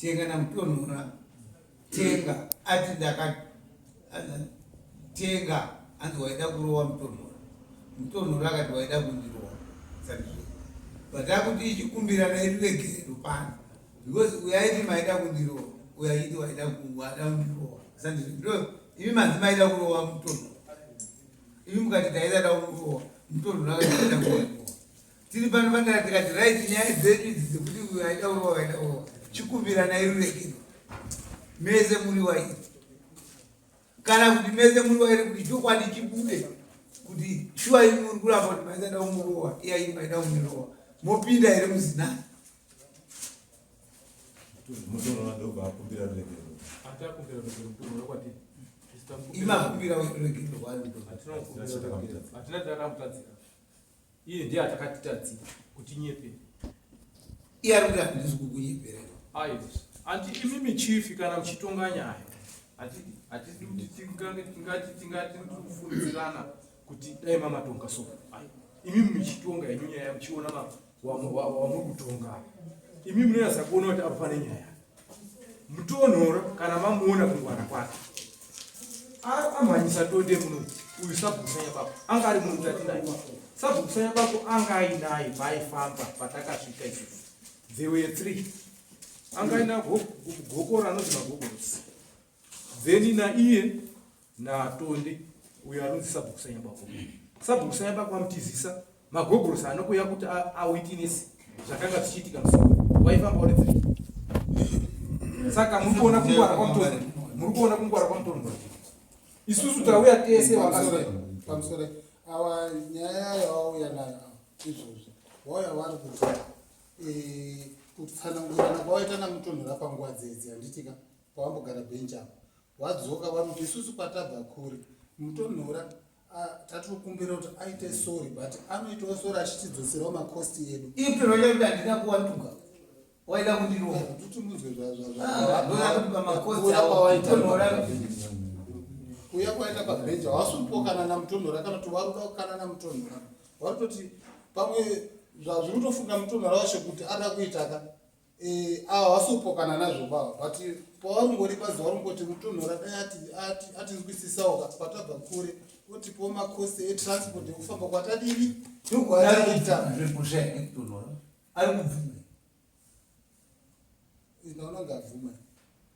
tenga namutonhora tenga ati ndakatenga anzi waida kurowa mutonhora mutonhora akati waida kundirowa sandizvo but akuti ichikumbira nairuregerero pano because uyaiti maida kundirowa uyaiti waida kuwada kundirowa sandizvo ndo imi manzi maida kurowa mutonhora imi mukati taida da kurowa mutonhora akati waida kuwaiwa tiri pano pandara tikati right nyaya dzedu idzi dzekuti uyo aida urowa aida urowa chikumbirana irurekero mese muri wairi kana kuti mese muri wairi kuti chokwadi chibude kuti shuwa imi muri kuramba kuti maisada umurowa iya imi maida umurowa mopinda here muzinani imakumbira rurekero rwarudo Iye ndiye atakatitadzira kuti nyepe. Iye ari kuti handisi kukunyepera. Ayo. Anti imi michifi kana muchitonga nyaya. Ati ati kuti tingange tingati tingati kufundirana kuti dai mama tonga so. Ayo. Imi muchitonga yenyu nyaya muchiona ma wa wa wa mukutonga. Imi munonasa kuona kuti apane nyaya. mutonhoro kana mamuona kungwana kwake amhanyisa tonde muno uyu sabhukusanya bako anga ari munhu tatinaye sabhukusanya bako anga ainaye vaifamba patakasvika izvi there were three anga aina gokora anonzi magogorosi then naiye natonde uyo anonzi sabhuku sanyabako sabhuku sanyabako amutizisa magogorosi anokuya kuti awitinesi zvakanga zvichiitika musoro waifamba uri three saka muri kuona kungwara kwamutonde muri kuona kungwara kwamutonde isusu tauya tese wakamusore awa nyaya yawauya nayo izvozvi wauya wari kuti eh, kutsanangurana kwawaita namutonhora panguva dzedzi handitika pawambogara bench apa wadzoka vanoti isusu kwatabva kuri mutonhora tati kukumbira kuti aite sorry but anoitawo sorry achitidzoserawo makosti edu ipi vaida kuti handina kuwatuka waida kundirova kuti munzwe zvazvazvaakuawaitaonhora kuya kwaita pabhenja wasupokanana mutonhora kana kuti waruda kukanana mutonhora warutoti pamwe zvazviri kutofunga mutonhora wacho kuti ada kuitaka Eh, ava havasi kupokana nazvo baba but pawaringori bazi waringoti mutonhora dai ati atinzwisisawo ka kwatabva kure otipo makosi etransport ekufamba kwatadini nokwaaiakutonhora ari kubvume inaona ngabvume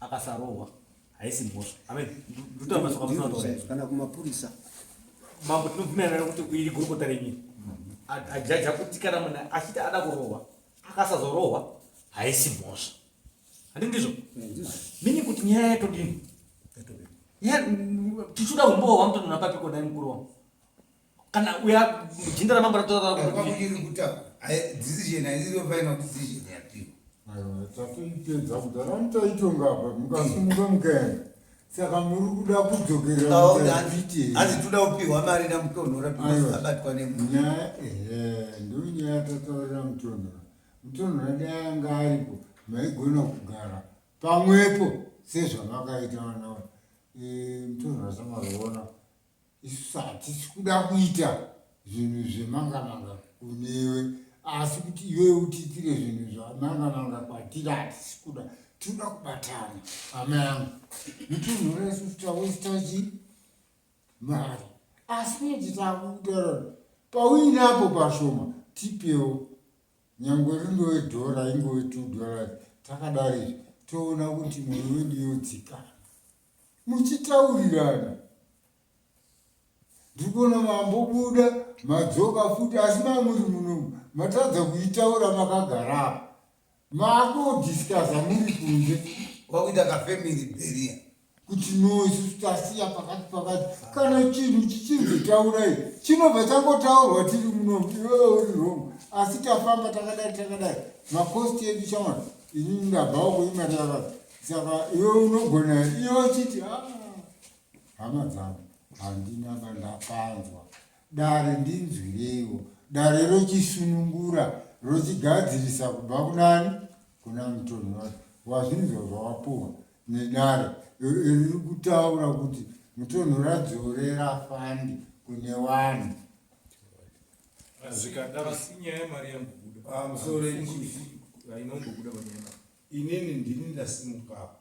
akasarohwa haisi mhosva amen ndotamba soka musana taura kana kumapurisa mambo tinobvumirana nekuti iri gurukota renyu ajaja kuti kana munhu achiti ada kurohwa akasazorohwa haisi mhosva handi ndizvo mini kuti nyaya yatodini tichida kumbohwa mutonona papi kodai mukuru wangu kana uya jinda ramambo ratotaura tatoipedza kudhara mutaitonga apa mukasimuka mukaenda saka muri kuda kudzokerahanzi toda kupihwa mari namutonhora abatwa nenyaya ehe ndonyaya tataurira mutonhora mutonhora dai anga aripo maigona kugara pamwepo sezvamakaita vanawa mutonhora samazoona isu hatisi kuda kuita zvinhu zvemangamanga kunewe asi kuti iwewe utiitire zvinhu zvamangamanga kwatiri hatisi kuda tinoda kubatana hama yangu nitunhura isu tawesitachi mari asi kuti takutaura pauinapo pashoma tipewo nyange rindowe dhora ingove two dollars takadari toona kuti mwoyo wedu yodzikana muchitaurirana ndikuona mambobuda madzoka futi asi mamuri munomu matadza kuitaura makagarapa makudiscusa muri kunze kwakuita kafamily beria kuti noise tasiya pakati pakati kana chinhu chichinzi taurai chinobva changotaurwa tiri munomu iwewe uri wrong asi tafamba takadai takadai makosti edu chawana inini ndabvawo kuimatakadai saka iwe unogona iwe uchiti ah, hama dzangu handina bandapanzwa dare ndinzwireiwo dare rochisunungura rochigadzirisa kubva kunani kuna mutoni wake wazvinzwa zvawapuwa nedare riri kutaura kuti mutonho radzorera fandi kune vanhu zvikadaro sinyaya yemari yambobuda ah, musoro inongobuda panyaya Inini ndini ndasimukapo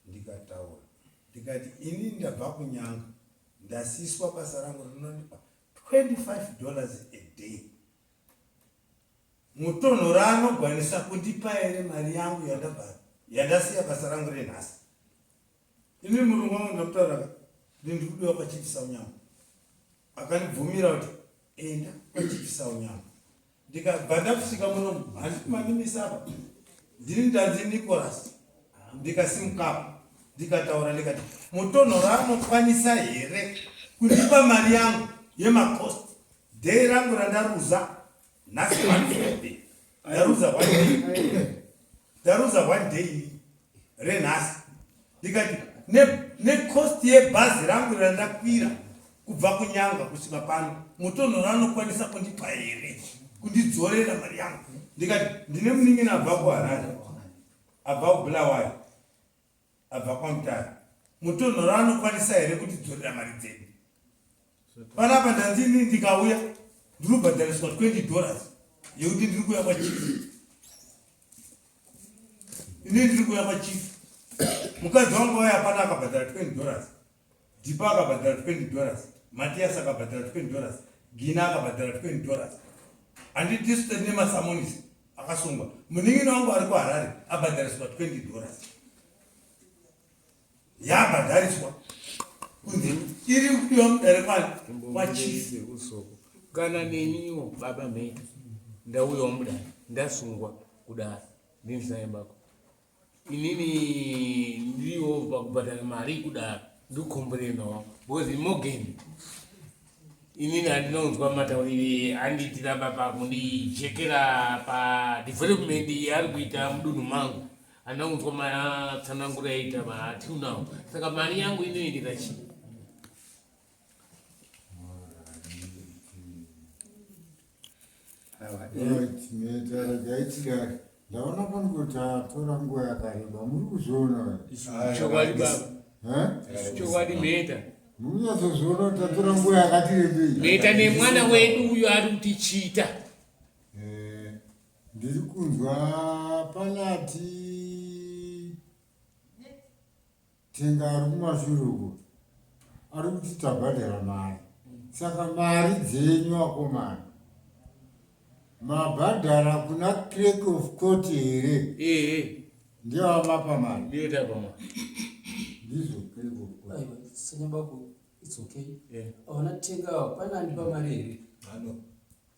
ndikataura ndikati ini ndabva kunyanga ndasiswa basa rangu rinondipa 25 dollars a day mutonhora anogwanisa kundipa here mari yangu yandabva yandasiya basa rangu renhasi ini murungu wangu ndamutaura ndindikudiwa pachipisa unyama akandibvumira kuti enda kwachipisa unyama ndikabva ndakusvika muno handiti mamimisa apa ndini ndanzi nicolas ndikasimukapa ndikataura ndikati mutonhoro anokwanisa here kundipa mari yangu yemacost dei rangu randaruza nhasi one friday ndaruza one day ndaruza one day renhasi ndikati necost ne yebhazi rangu randakwira kubva kunyanga kusvika pano mutonho ranokwanisa kundipa here kundidzorera mari yangu ndikati ndine munin'ina abva kuharare abva kubulawayo abva kwamutara mutonhoro anokwanisa here kuti dzorera mari dzedu panapa ndanzi ini ndikauya ndinobhadhariswa 20 dollars yekuti ndiri kuya kwachifu ini ndiri kuya kwachifu mukadzi wangu waya apana akabhadhara 20 dollars Dipa akabhadhara 20 dollars, Matias akabhadhara 20 dollars, Gina akabhadhara 20 dollars. Handi tisu tiri nemasamonisi akasungwa. Munin'ina wangu ari kuHarare abhadhariswa 20 dollars. Yabhadhariswa kunzi iri kudiwa mudare kwani kwachief usoku kana neniwo baba mheta ndauyawo mudare ndasungwa kudaro ndinzayembako inini ndiwo pakubhadhara mari kudaro ndikukomboreno because morgan inini andinonzwa mataurire andiitira baba kundijekera padevelopment yaari kuita mudunhu mangu andinonzwa matsananguro yaita matiu now saka mari yangu inoendera chii ndaona pano kuti atora nguva yakareba muri kuzviona chokwadi baba chokwadi mheta munyatsoziona kuti atora nguva yakati rebei mheta nemwana wedu uyo ari kuti chita eh, ndiri kunzwa panati Tenga ari kumashure uko ari kuti tabhadhara mari saka mari dzenyu akomana mabhadhara kuna clerk of court here ehe ndiyo amapa mari ndiyo tapa mari ndizvo clerk of court aiwa senyabako its okay Yeah. aona tenga awa pane andipa mari here Ano.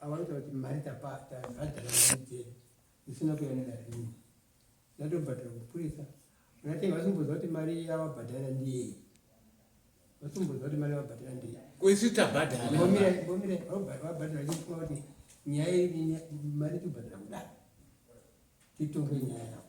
avanotaura kuti mari tapataisina kuyanira rini ndatobhadhara kupurisa unatenga vasimboziva kuti mari yavabhadhara ndiye vasimboziva kuti mari yavabhadhara ndiye kuisi tabhadhara mbomire mbomire vabhadhara chifunga kuti nyaya iri mari tibhadhara kudaro titonge nyaya yavo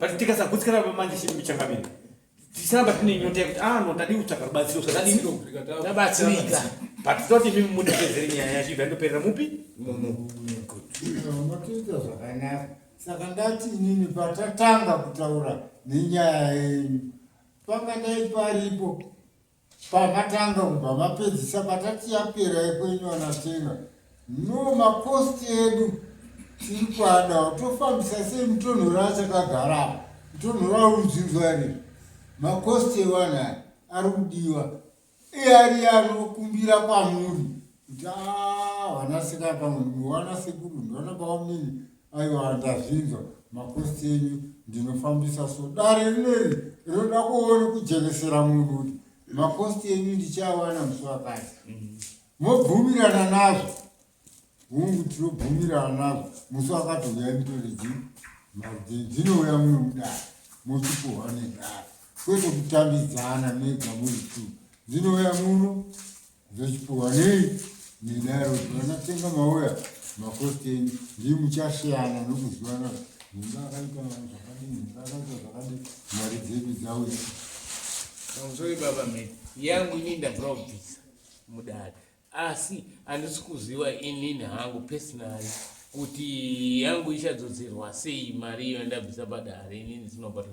but tikasagutsikana pamanje chii muchangamire tisaramba tine nyota yekuti ah no tadii kutsvaga rubatsiro sadadii tabatsirika but toti mimi mundipedzere nyaya yacho ibva ndoperera mupi munotiita zvakanaka saka ndati inini patatanga kutaura nenyaya yenyu panga ndai paripo pamatanga kubva mapedzisa patati yapera yekwenyu anatenga no makosti edu tiri kuadawo tofambisa sei mutonhoro achakagara apa mutonhoro aurudzinzwari makosti ewanaya ari kudiwa iari anokumbira kwamuri Ndaa vanasika pamwe ndiwana sekuru ndiwana bamamini aiwa ndazvinzwa makosti enyu ndinofambisa so dare rineri rinoda kuona kujekesera munhu kuti makosti enyu ndichawana musi wakati mobvumirana nazvo hungu tinobvumirana nazvo musi wakati huyai mutore ji mari dzinouya muno mudare mochipuhwa nedare kwete kutambidzana mega muri two dzinouya muno Dzochipuwa nei nedaro vanatenga mauya makosteni ndii muchasiyana nokuzivana mumba akaita zvakadini mumba akaita zvakadini mari dzedu dzauya sorry baba me yangu ini ndakabvisa mudare asi handisi kuziva inini hangu personally kuti yangu ichadzodzerwa sei mari iyo yandabvisa padare inini ndinobatwa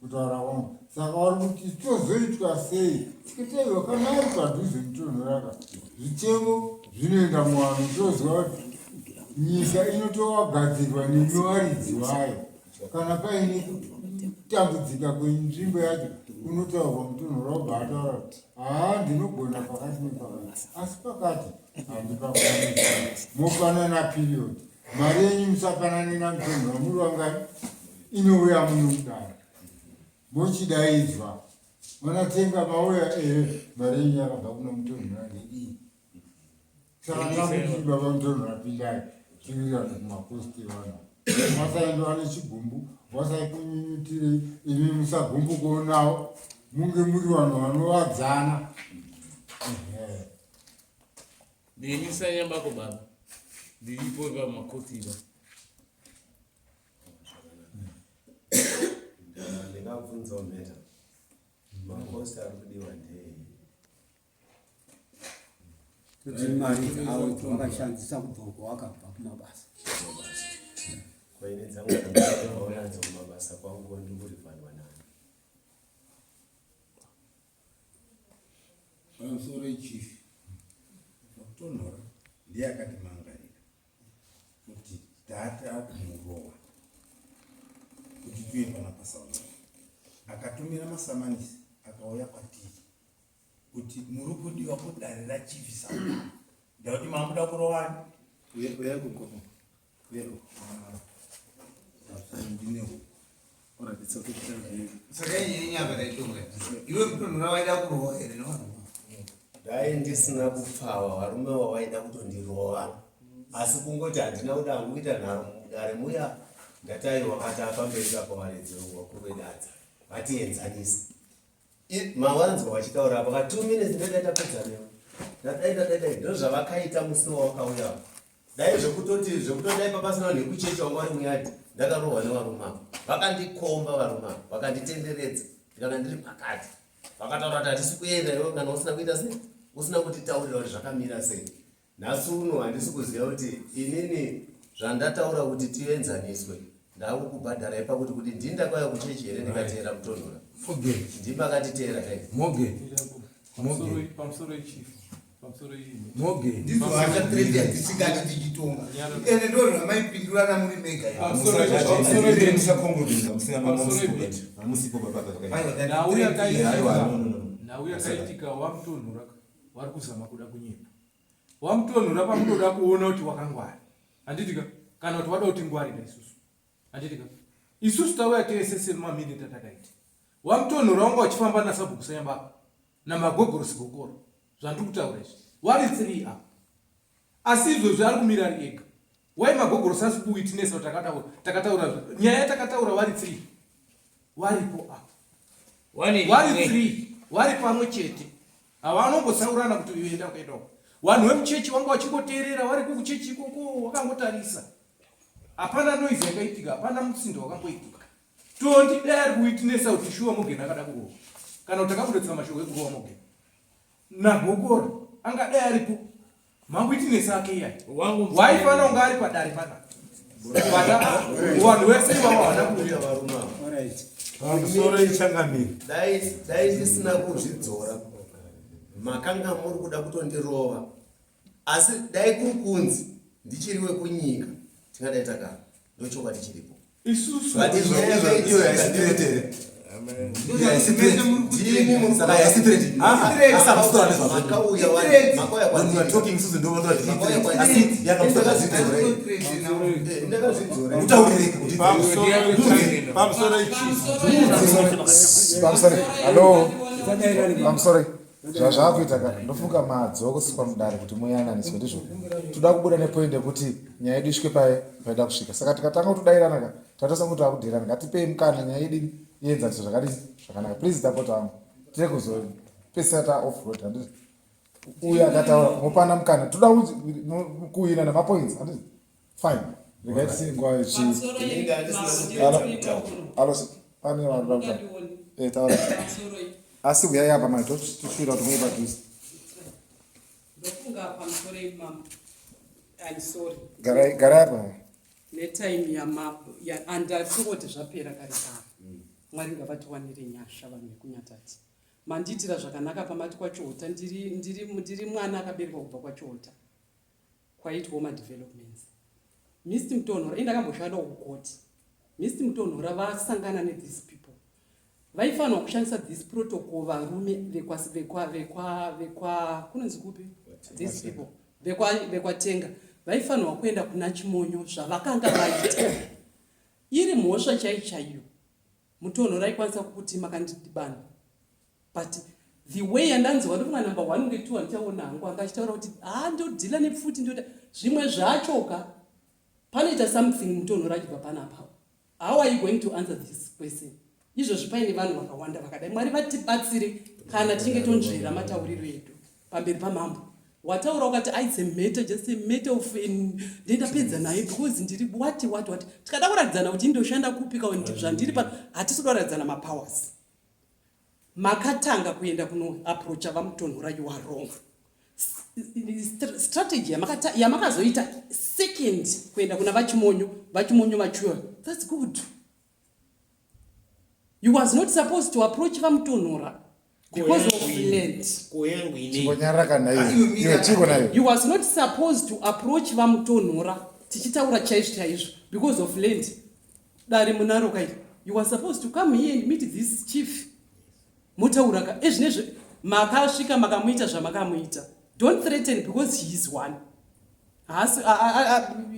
kutaura wangu saka wari kuti tozoitwa sei tikitaiwa kana ari padhuze nitonhoraka zvichemo zvinoenda muwanhu toziva kuti nyika inotowagadzirwa nemiwaridzi wayo kana paine kutambudzika kwenzvimbo yacho unotaurwa mutonhorobva ataura kuti haa ndinogona pakati nepakati asi pakati handipakwanisa mofanana period Mari yenyu musapanane namutongi wamuri wangani inouya munodaro mochidaidzwa vanatenga mauya ere eh, mari yenyu yakabva kuna mutongi wandidii saka tamuti baba mutongi wapindai tirirane kumakosti vana masaendiwa nechigumbu wasaikunyunyutirei imi musagumbu kuonawo munge muri vanhu vanovadzana Neni sanyambako baba ndiripo vamakotiba ndingabvunzawo mheta makosi ari kudiwa ndei kuti mari dzawo dzawakashandisa kubva uko wakabva kumabasa kwaine dzangu dzaaonadzo kumabasa kwangu ndikurifanwa pamusoro ichifi kutonhora ndiye akati mangarira kuti dhati akumurowa kuti tuye pana pasaona akatumira masamanisi akauya kwatiri kuti muri kudiwa kudare rachifi sauna ndakuti makuda kurovani uye kuya kukoma dai ndisina kupfawa varume wavaida kutondirova asi kungoti handina kuda hangu kuita nharo mudare muya ndatairwa kati apamberi kapo varedzi vakuru vedadza vatienzanisa mawanzwa vachitaura apo ka two minutes ndoita tapedza nevo ndadaidadaidai ndozvavakaita musiwo wakauya dai zvekutoti zvekutoti dai papasina nekuchecha wanga uri muyadi ndakarohwa nevarume avo vakandikomba varume avo vakanditenderedza ndikanga ndiri pakati vakataura kuti hatisi kuenda iwe kana usina kuita sei usina kutitaurira kuti zvakamira sei nhasi uno handisi kuziva kuti inini zvandataura kuti tienzaniswe ndakukubhadharai pakuti kuti ndini ndakauya kuchechi here ndikateera mutonhora ndimi akatiteera hei pamusoro echief ndizo hasha trend yatisingadi tichitonga ende ndo zvamaipindurana muri mega nhau yakaitika wamutonhora wari kuzama kuda kunyepa wamutonhora pamunoda kuona kuti wakangwari handitika kana kuti wada kuti ngwarira isusu handitika isusu tauya tese semamini tatakaita wamutonhora wanga uchifamba nasabhuku sanyambako namagogorosi gokoro zvandiri kutaura izvi wari three apa asi izvozvi ari kumira ari ega wai magogorosi asi kuwitinesa takataura takataura nyaya yatakataura wari three waripo apa wari three wari pamwe chete havanongosaurana kuti uyu enda kuenda uko vanhu vemuchechi vanga vachingoteerera vari kukuchechi ikoko wakangotarisa hapana noise yakaitika hapana musindo wakamboitika Tondi dai ari kuwitinesa kuti shuwa Morgan akada kurohwa kana kuti akakudotsa mashoko ekurohwa Morgan nagokora angadai aripo mawitinesi ake iya waifanira kunge ari padare pana vanhu vese ivavo havana kuuya varume pamusoro ichangamiri dai ndisina kuzvidzora makanga muri kuda kutondirova asi dai kuri kunzi ndichiri wekunyika tingadai takara ndochokwadi chiripo isusu I'm sorry. zvazvakuita ka ndofunga madzo kusiswa mudare kuti muyananiswe ndizvo toda kubuda nepoint yekuti nyaya yedu isvike paye paida kusvika saka tikatanga kutodairana ka tatosa kuti takudirana ngatipei mukana nyaya yedu ienzaniswe zvakadi zvakanaka please tapota wangu tine kuzopesera ta off road handiti uyu akataura mopana mukana toda kuinana mapoints handiti fine regai tisiye nguva pane vanhu vaa eh, taura asi huyai apa mai toshuvira kuti muye padhuze garai apa netime yamabo andafungoti zvapera kare kare mm. mwari ngavatiwanire nyasha vanhu vekunyatati mandiitira zvakanaka pamati kwachohota ndiri mwana akaberekwa kubva kwachohota kwaitwawo madevelopments mist mutonhora ini ndakamboshanda kukoti mist mutonhora vasangana nethese people vaifanirwa kushandisa this protocol varume vekunonzi kupi these people vekwatenga vaifanirwa kuenda kuna chimonyo zvavakanga vaita iri mhosva chai chaiyo mutonhora ikwanisa kukuti makandidibana but the way yandanzwa uri mwana number one unge two andichaona hangu anga achitaura kuti haa ah, ndodhila nepfuti ndoda zvimwe zvachoka panoita something mutonhora achibva panapa how are you going to answer this question izvozvi paine vanhu vakawanda vakadai mwari vatibatsire kana tichinge tonzvera matauriro edu pamberi pamambo wataura ukati aise meta just a meta of ndendapedza naye because ndiri wati wati wati tikada kuratidzana kuti indoshanda kupika zvandiri pano hatisi kuda kuratidzana mapowers makatanga kuenda kuno approacha vamutonhora you are wrong strategy yamakazoita yamaka second kuenda kuna vachimonyo vachimonyo vachuwa thats good you was not supposed to approach vamutonhora because of land you was not supposed to approach vamutonhora tichitaura chaizvo chaizvo because of land Dare munaro kai. You were supposed to come here and meet this chief. Motaura ka ezvinezve eh, makasvika makamuita zvamakamuita. Don't threaten because he is one. Haasi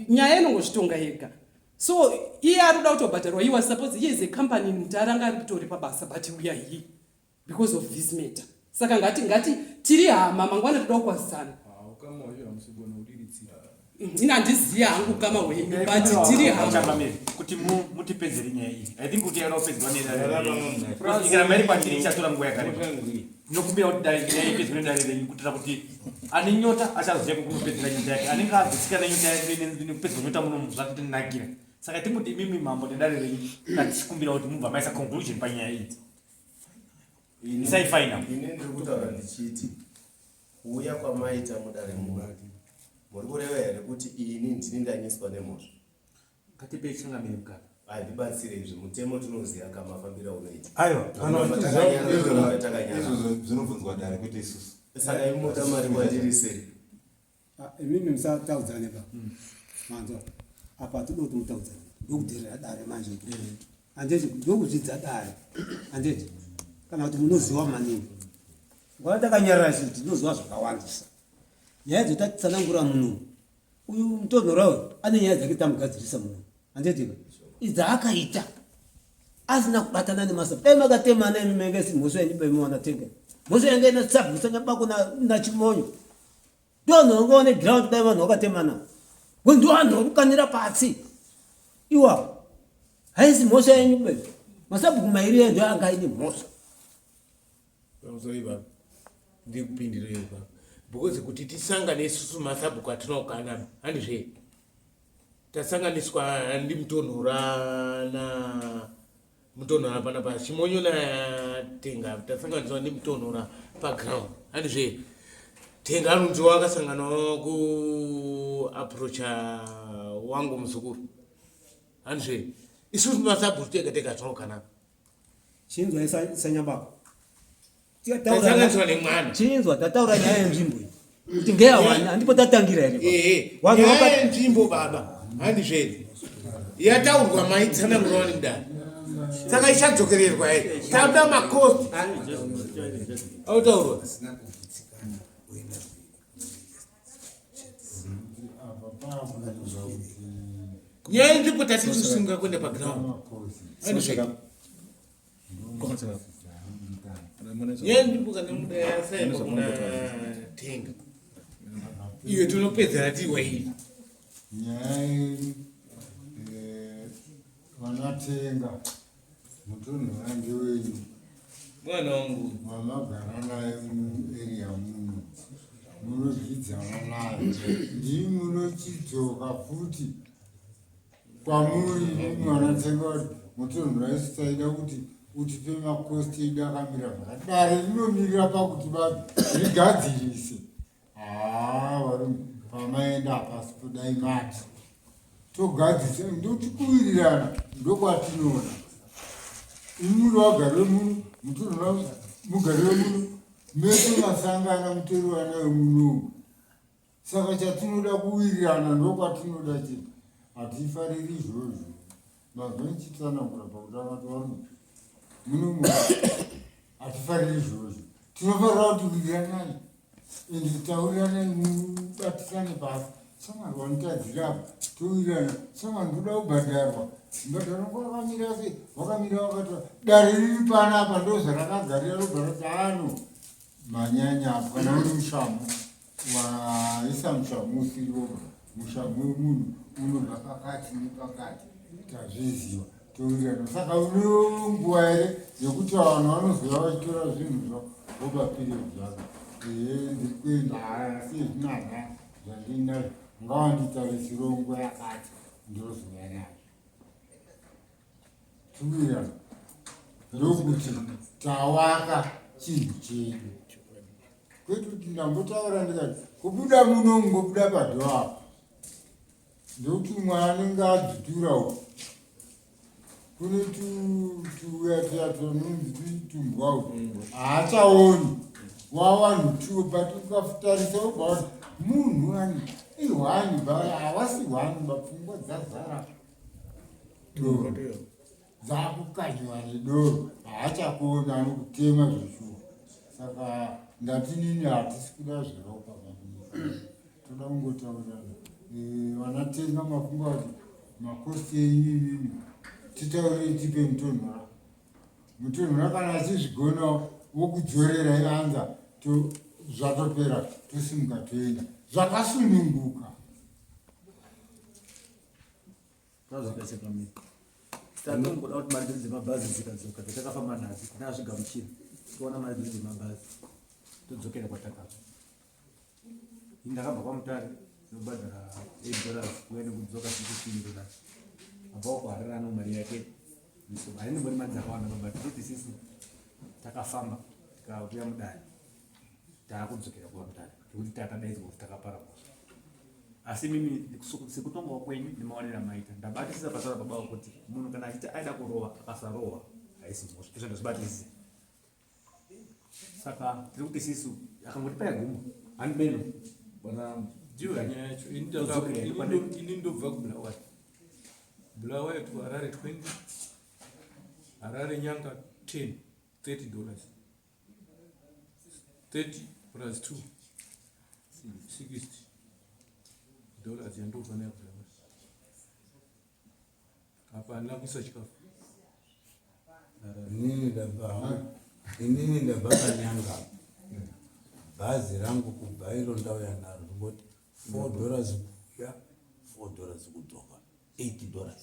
nyaya inongozvitonga yega. So iye ari kuda kutobhadharwa. He was supposed he is a company in Mutara anga ari kutoripa basa but we are here. because of this matter saka ngati ngati tiri hama mangwana toda kukwazisana ndina ndiziya hangu kama wenyu but tiri hama kuti mutipedzere nyaya iyi i think kuti yada kupedzwa nedaikana mairi kwandiri ichatora nguva yakareba nokumbira kuti dai nyaya ipedzwe nedare renyu kuitira kuti ane nyota achazoziva kukunopedzera nyota yake anenge azotsika nenyota yake nekupedzwa nyota munomu zvatitinakira saka tinguti imimi mambo nedare renyu tatikumbira kuti mubva maisa conclusion panyaya idzi Isai final. Ini ndiri kutaura ndichiti kuuya kwamaita mudare muno muri kureva here kuti ini ndini ndanyiswa nemhosva? Ngatipe changamire mukaka. Handibatsire izvi mutemo tinoziva kamafambira unoita. Aiwa, izvozvo zvinobvunzwa dare kwete isusu. Saka imuta mari kwandiri sei? Ah, imimi musataudzane pa mm. manzwa apa tinoda kuti mutaudzane ndokudherera dare manje mm. andeti ndokuzvidza dare andeti kana kuti munoziva maningi nguva takanyarara chii tinoziva zvakawandisa nyaya dzotatsanangura muno uyu mutonhora uyu ane nyaya dzake tamugadzirisa muno andeti idzaakaita asina kubatana nemasa dai makatemana imi menge simhoso yanyu baimuwana tenge mhoso yange inasabvisa nyabako nachimonyo na ndivanhu vanga vane ground dai vanhu vakatemana ngo ndivanhu vakukanira pasi iwawo haisi mhosva yenyu be masabhuku mairi enjo anga aine mhosva uzoiva ndikupindirei baba because kuti tisangane isusu masabhuku atinokanana handizve tasanganiswa ndimutonhorana mutonhora panapa chimonyo natenga tasanganiswa nemutonhora paground handi zve tenga anonziwa akasanganawo kuaprocha wangu muzukuru handi zve isusu masabhuti tega tega tinokanaka chinzwa isanyambako chinzwa tataura nyaya yenzvimbo kuti ngeyawani handipo tatangira here nyaya yenzvimbo baba handi zvere yataurwa maitsana muroni mdani saka ichadzokererwa here tauda makosti autaurwa nyaya yenzvimbo tatiri kusunga kuenda paground yandibuka nemudaya saimba kuna tenga iyo tinopedzera tiwaini nyaya vanatenga mutunhu wange wenyu mwana wangu mamagara naye mueria muno munozvidzana naye ndii munochidzoka futi kwamuri imimi vanatsenga kuti motorunhu raisi taida kuti utipe makosti edu akamira zvakati dare rinomirira pakuti ba rigadzirise haa varume pamaenda hapasi podai mati togadzisa ndotikuwirirana ndokwatinoona imuri wagari wemuno mutorunhu mugari wemuno mese masangana mutori wana wemunomu saka chatinoda kuwirirana ndokwatinoda chete hatifariri izvozvo mazwa ichitsanangura pakutanga tivarume muno mu hatifariri izvozvo tinofarira kuti wiriranai and taurirane mubatisane pasi samwari wanitadzira apa towirirana samwari ndoda kubhadharwa mbadharo ngo wakamira se wakamira wakati dare riri pana apa ndozvarakagarira rogarati ano manyanya apa kana uri mushamu waisa musha musi iwoga musha mwemunhu unobva pakati nepakati tazviziva towirirana saka uno nguva here yekuti vanhu vanozova vachitora zvinhu zva voba period zvako ee ndiri kuenda asi zvinana zvandiinazvo ngawanditarisiro nguva yakati ndozouya nazvo tuya ndokuti tawaka chinhu chedu kwete kuti ndambotaura ndikati kubuda muno ngobuda padho apo ndokuti umwe anenge adzitura uko kune tuya tuya tononzi tumbwa uko haachaoni wawanhu tuo but ukafutarisa ubaona munhu ani ihwani ba hawasi hwani bapfungwa dzazara doro dzakukanywa nedoro haachakuona anokutema zveshuwa saka ndati nini hatisi kuda zveropa toda kungotaurirana eh, vanatenga mafunga kuti makosti enyu inini titaurei tipe mutonhora mutonhora kana achizvigona wokudzorera ianza zvatopera tosimuka toenda zvakasununguka tanongoda kuti mari dzedu dzemabhazi dzikadzoka dzatakafamba nadzo kuti azvigamuchira toona mari dzedu dzemabhazi todzokera kwatakabva ndakabva kwamutare ndobhadhara eight dollars kuya nekudzoka sixteen dollars abva kuhararano mari yake haindimbori mari dzakawanda babhadhara kuti sisi takafamba tikakuya mudare taakudzokera kuva kutanga nekuti takadaidzwa kuti takapara mhosva asi mimi sekutongawo kwenyu nemaonera maita ndabatisisa pataura baba kuti munhu kana achiti aida kurova akasarohwa haisi mhosva izvo ndazvibatisisa saka tiri kuti sisu akangoti paya guma handi meno bona ndiyo nyaya yacho ini ndobva kubulawayo bulawayo to harare 20 harare nyanga 10 30 dollars 30 plus 2 60 dollars yandofanira kuaa apa andina kuisa chikafu inini ndabva inini ndabva kanyanga bhazi rangu kubva iro ndauya naro ndingoti four dollars kuuya four dollars kudzoka eight dollars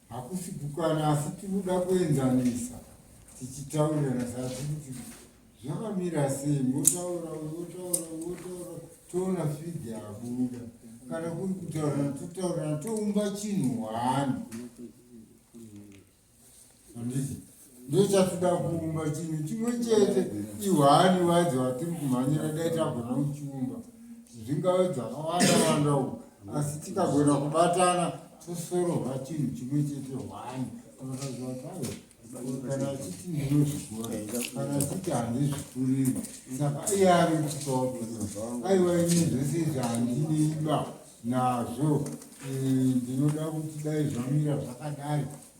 Hakusi kukana asi tinoda kuenzanisa tichitaurirana saka tikuti zvakamira sei motaura wotaura wotaura toona fidhi yabuda kana kuri kutaurana totaurana toumba chinhu hwani anditi ndochafika kuumba chinhu chimwe chete ihwani wadzo watiri kumhanyira dai tagona kuchiumba zvingave dzakawanda wanda u asi tikagona kubatana tosorova chinhu chimwe chete hwani anotaziwatayo kana achiti ndinozvikora kana achiti handizvikuriri saka iye ari kutipawo aiwa ini zvese izvi handineiba nazvo eh, ndinoda kuti dai zvamira zvakadai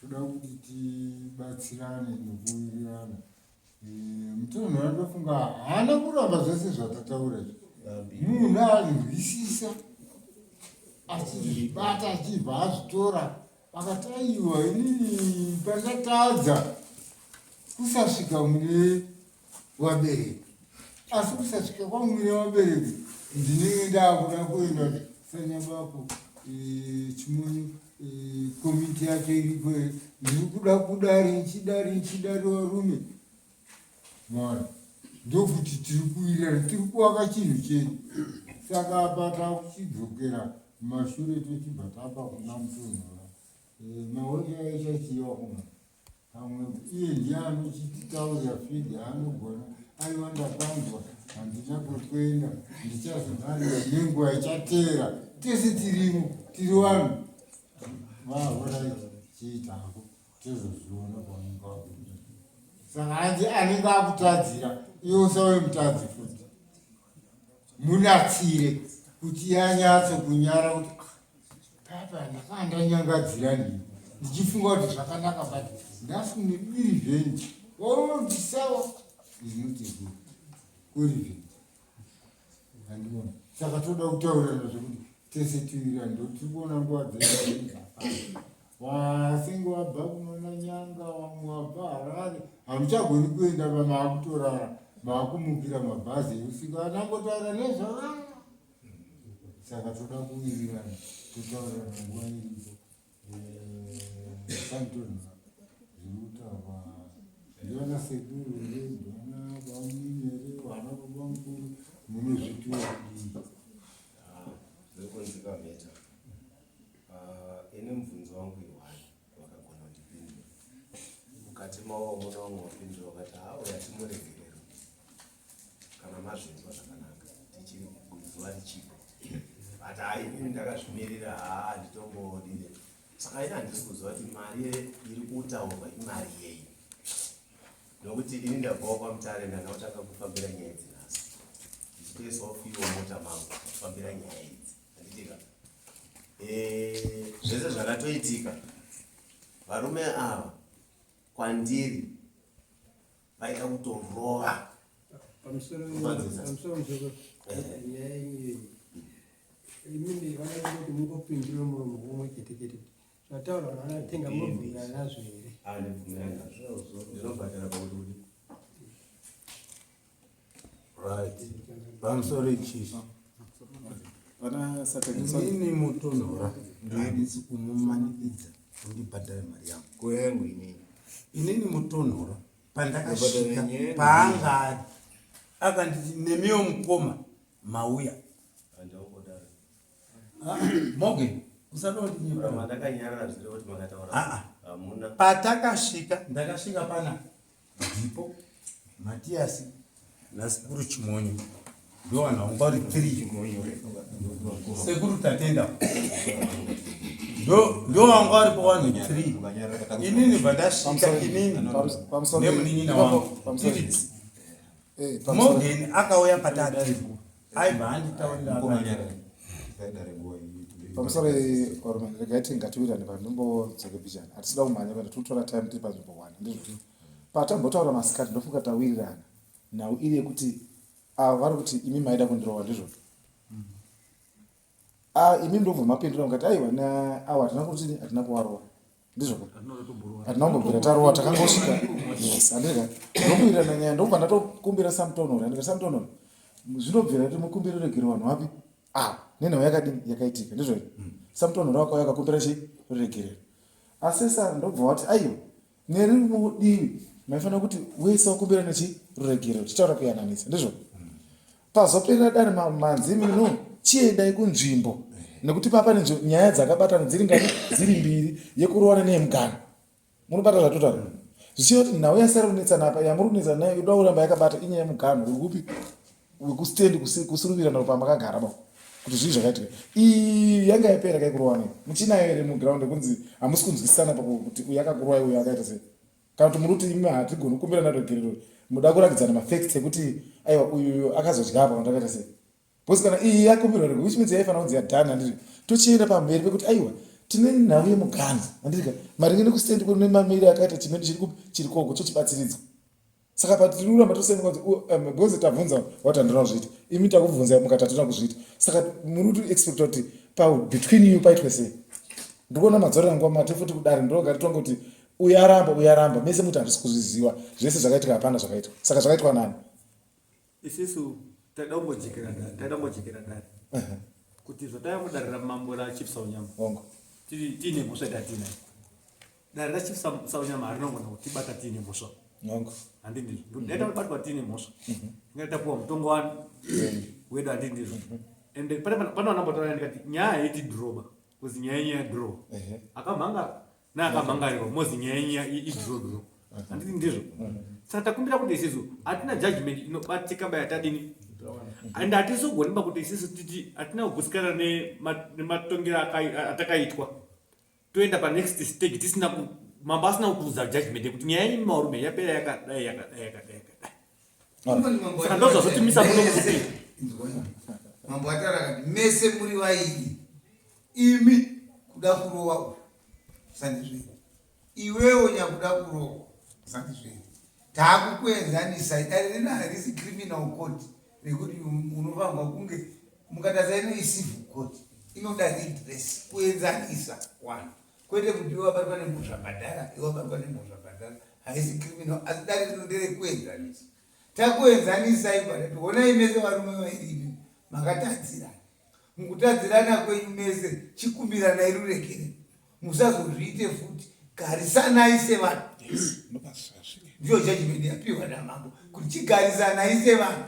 toda kuti tibatsirane nokuwirirana eh, mutonho anofunga haana kuramba zvese zvatataura munhu anzwisisa achizvibata achibva azvitora akati aiwa inini pandakatadza kusasvika mune vabereki asi kusasvika kwangu ine vabereki ndinenge ndaakuda kuenda sanyabako eh, chimunyu eh, komiti yacho iripo ndiri kuda kudari nchidari nchidari varume mwana ndokuti tiri kuwirirana tiri kuvaka chinhu chedu saka apa takuchidzokera mashure tochibva tapa kuna mutonhora eh, maoja aichachiva kuna pamwe iye ndiye anochititaurira fidi anogona aiwa ndakanzwa handina kwekuenda ndichazonarira nenguva ichateera tese tirimo tiri vanhu vahorai chiitako tezozviona pamunge wakuda saka hanzi anenge akutadzira iwe usawe mutadzi futi munatsire kuti yanyatso kunyara kuti papa ndakaa ndanyangadzira ndii ndichifunga kuti zvakanaka but ndafune irevenge oondisawa izinotegura kurevenge andiona saka toda kutaurana zvekuti tese tiwira ndotiri kuona nguva dzeaa Vasingo wabva kunoona nyanga wangu wabva Harare hamuchagoni kuenda vamaakutorara maakumukira mabhazi eusiku anangotaura nezvavana saka toda kuwirirana totaurira nguva iripo eh, santoni zvirikutaurwa ndiana sekuru here ndiana bamunini here vana baba mukuru mune zvituwa kudii ah, Uh, ini mubvunzo wangu iwani wakagona kundipindura mukati mawo muna wamwe wapindura wakati hawo yatimuregerero kana mazvinzwa zvakanaka tichiri kuzuva richipo but hayi ini ndakazvimirira haa handitongoodire saka ini handisi kuziva kuti mari iri kutaurwa imari yei nokuti ini ndabvawo kwamutare ndandakutanga kufambira nyaya idzi nhasi ndichitoisawo fiwo mota mangu kufambira nyaya idzi Eh, zvese zvakatoitika varume ava kwandiri vaida kutorova Zvataurwa naana Tenga munobvumirana nazvo here? Ah, ndibvumirana nazvo. Ndinobhadhara pakuti Right. I'm sorry, Chief. Ini mutonhora ndinisi kumumanikidza kundibhadhara mari yangu. Kuyangu inini. Inini mutonhora pandakasvika paanga ari akanditi nemiwo mukoma mauya Morgan, patakasvika ndakasvika pana ndipo matiyasi nasekuru chimonyo ndovanhaunga uri three sekuru tatenda ndovanga vari pawanhu three inini bva ndasvika inini nemunin'ina wangu eh, morgan akauya patatu aibva anditaurira pamusoro orman regai tingatiwirane panzvimbo dzoke bijana hatisida kumhanya kana tinotora time tiri panzvimbo one ndizvozvo patambotaura masikati ndofunga tawirirana nhau iri yekuti ava vari kuti imi maida kundirova ndizvozvo Ah, imi ndobva mapindura mukati aiwa awa hatina kuti hatina kuvarova ndizvo hatina kumbobvira tarova takangosvika yes handirega ndokuirana nyaya ndokubva ndatokumbira samtonor handika samtonor zvinobvira kuti mukumbiro regero vanhu vapi ah nenhau yakadini yakaitika ndizvo samtonor wako yakakumbira chii regerero asi sa ndobva wati aiwa nerimwe divi maifanira kuti wese wakumbira nechiregero tichitaura kuyananisa ndizvo pazoperera dare manzi mino chiendai kunzvimbo nekuti papa nyaya dzakabatana dziri ngani dziri mbiri yekurovana neyemugano munobata zvatotaura zvichiva kuti nhau yasara kunetsana apa yamuri kunetsana nayo yoda kuramba yakabata inyaya yemugano uri kupi wekustand kusuruvira naro pamakagara ba kuti zvii zvakaitika iyi yanga yapera kaikurowana muchinayo here muground yekunzi hamusi kunzwisisana pakuti uyu akakurwai uyu akaita sei kana kuti muri kuti imi hatigoni kukumbira nadogerero muda kuratidzana mafacts ekuti aiwa uyu akazodya apa kana takaita sei bcause kana iyi yakumbirwa rego which means yaifanira kunzi yadhani handiri tochienda pamberi pekuti aiwa tine nhau yemuganzi handirika maringe nekustand kune mamiri akaita chimene chiri kupi chiri koko chochibatsiridzwa saka patiri kuramba tosemuka kuti oh, um, because tabvunza wati handina kuzviita imi takubvunza mukati hatona kuzviita saka muri kuti expecta kuti pabetween you paitwe sei ndikuona madzorera nguva mate futi kudare ndinoga titonge kuti uyaramba uyaramba mese muti hatisi kuzviziva zvese zvakaitika hapana zvakaitwa saka zvakaitwa nani isisu taida kumbojekera ndani taida kumbojekera ndani kuti zvataya kudarira mambo rachief saunyama tiine mhosva yatatiina dare rachief saunyama harinongona kutibata tiine mhosva handi ndizvo ndaita kubatwa tiine mhosva mhm. inga tapuwa mutongo wani wedu handi ndizvo mhm. ende pane vanambotaura ndikati nyaya haiti dhiroba kuzi nyaya yenyu yadhirowa akamhanga naakamangarirwa mozi nyaya yenyu idhirodhiro handiti ndizvo saka takumbira kuti isisu hatina judgment inobatika bayatadini and hatizogoni ba kuti isisu titi hatina kugutsikana nematongero atakaitwa toenda panext stage tisina mambo asina kukuudza judgment yekuti nyaya yenyu marume yapera yakadai yakadai yakadai saka ndozvazotimisa muno kuti mambo atara kati mese muri vaini imi kuda kurowa uyu sandizvei iwewo nyakuda kurowa sandizvei taakukuenzanisa idari rina harisi criminal court rekuti unofanirwa kunge mukatasa ino isivu court inoda redress kuenzanisa wanhu kwete kuti iwe wabatwa nemhosva bhadhara iwe wabatwa nemhosva bhadhara haisi criminal asi dare rino nderekuenzanisa takuenzanisai bhadhati honai mese varume vairimi makatadzirana mukutadzirana kwenyu mese chikumbiranai rurekere musazozviite futi garisanai sevanhu ndiyo jajimende yapiwa namambo kuti chigarisanai sevanhu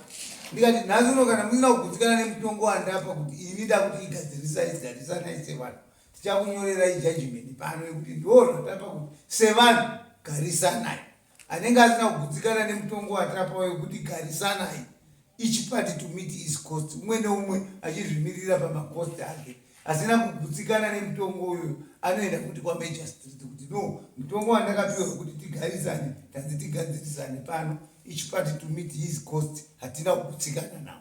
ndikati nhasi uno kana musina kugutsikana nemutongo wandapa kuti ini ndakuti igadzirisai garisanai sevanhu tichakunyorerai judgment pano yekuti ndoo zvatapa kuti sevanhu garisanai anenge asina kugutsikana nemutongo watapa wekuti garisanai each party to meet his cost umwe neumwe achizvimirira pamacost ake asina kugutsikana nemutongo uyo anoenda kuti kwamajor street kuti no mutongo wandakapiwa wekuti tigarisane tanzi tigadzirisane pano each party to meet his cost hatina kugutsikana nawo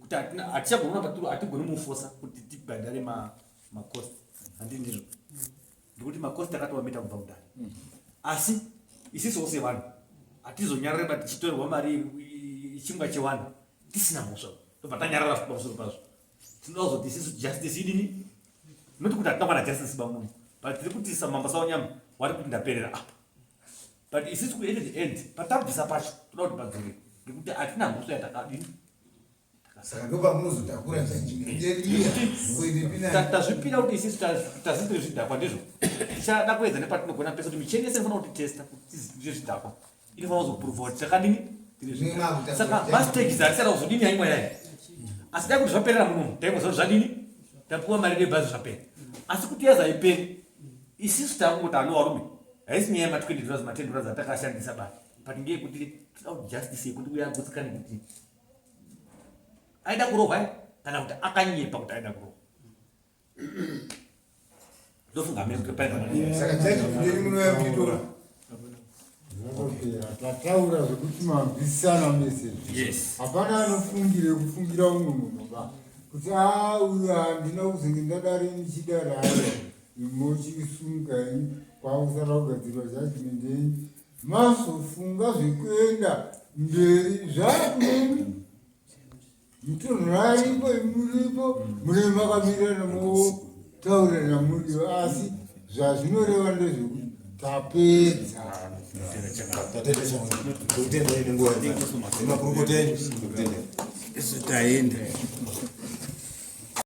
kuti hatichagona patiri hatigoni mufosa kuti tibhadhare macost handi ndizvo ndikuti macost akatowamita kubva kudari mm. asi isisowo sevanhu hatizonyarare ba tichitorerwa mari chingwa chevanhu tisina mhosva tobva tanyarara futi pamusoro pazvo tinoda kuzoti isisu justice idini noti kuti hatina kwana justice bamuno but tiri kuti samamba saonyama wari kuti ndaperera apa but isisi kuende the end patabvisa pacho toda kuti padzore ngekuti hatina mhosva yatakadini saka ndopamunozotakura tazvipira kuti isisi tazitire zvidhakwa ndizvo tichada kuedza nepatinogona pese kuti micheni yese inofanira kuti testa kuti zvidhakwa inofanira kuzoprova kuti takadini saka mastages atisada kuzodini yaimwe yayo asi dai kuti zvaperera munomu taimwe zvadini tapiwa mari rebhazi zvapera asi kuti yazaiperi isisu takungoda ano varume haisi nyaya yematwendedura zimatendura dzatakashandisa ba but ngeyekuti tida kuti justice yekuti uya agutsikane kuti aida kurohwa kana kuti akanyepa kuti aida kurohwa ndofunga mekuti paina tataura zvekuti mabvisana mese hapana anofungire kufungira umwe munhu ba kuti a ah, uyu handina kuzenge ndadari ndichidari aya imochisunga ini kwakusara kugadzirwa judgment yenyu mazofunga zvekuenda mberi zvakuneni mutonhoraipo muripo munenge makamirana motaura namudio asi zvazvinoreva ndezvekuti tapedza isu taenda